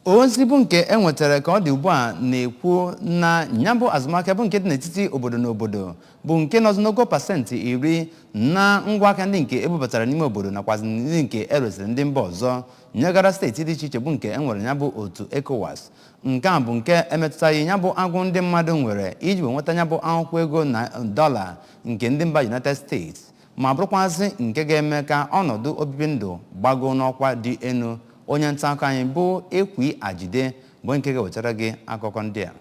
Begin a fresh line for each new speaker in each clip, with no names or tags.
ozi bụ nke e nwetara ka ọ dị ugbu a na-ekwu na nya bụ azụmahịa bụ nke dị n'etiti obodo na obodo bụ nke nọzi n'ogo pasentị iri na ngwa ahịa ndị nke e bubatara n'ime obodo nakwazị ndị nke e resịrị ndị mba ọzọ nyegara steeti dị iche iche bụ nke e nwere nya bụ otu ECOWAS nke a bụ nke emetụtaghị nya bụ agụụ ndị mmadụ nwere iji wee nweta nya bụ akwụkwọ ego na dọla nke ndị mba United States ma bụrụkwazị nke ga-eme ka ọnọdụ obibi ndụ gbagoo n'ọkwa dị elu onye nta akụkọ anyị bụ Ekwi Ajide bụ nke ga-ewetara gị akụkọ ndị a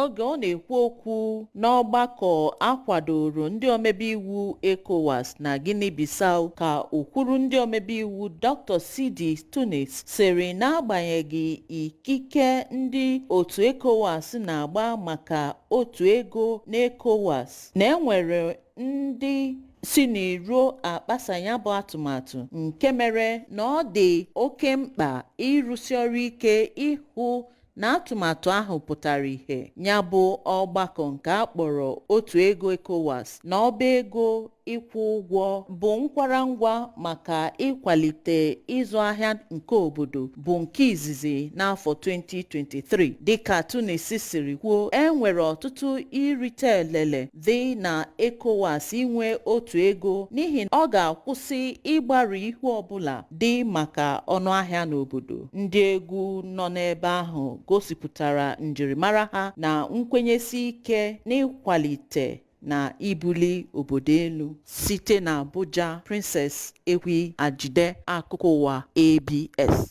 oge ọ na-ekwu okwu n'ọgbakọ a kwadoro ndị omebe iwu ECOWAS na Guinea-Bissau ọka okwuru ndị omebe iwu Dr. Sidie Tunis sịrị n'agbanyeghị ikike ndị otu ECOWAS na-agba maka otu ego n'ECOWAS na e nwere ndị si n'iro akpasa nya bụ atụmatụ nke mere na ọ dị oke mkpa ịrụsi ọrụ ike ịhụ na atụmatụ ahụ pụtara ihe nya bụ ọgbakọ nke a kpọrọ otu ego ECOWAS na ọba ego ịkwụ ụgwọ bụ nkwarangwa maka ịkwalite ịzụ ahịa nke obodo bụ nke izizi n'afọ 2023 dịka Tunis siri kwuo e nwere ọtụtụ irite elele dị na ECOWAS inwe otu ego n'ihi na ọ ga-akwụsị ịgbarụ ihu ọbụla dị maka ọnụahịa n'obodo ndị egwu nọ n'ebe ahụ gosipụtara njirimara ha na nkwenyesi ike n'ịkwalite na ibuli obodo elu site na Abuja Princess Ekwi Ajide akụkọ ụwa ABS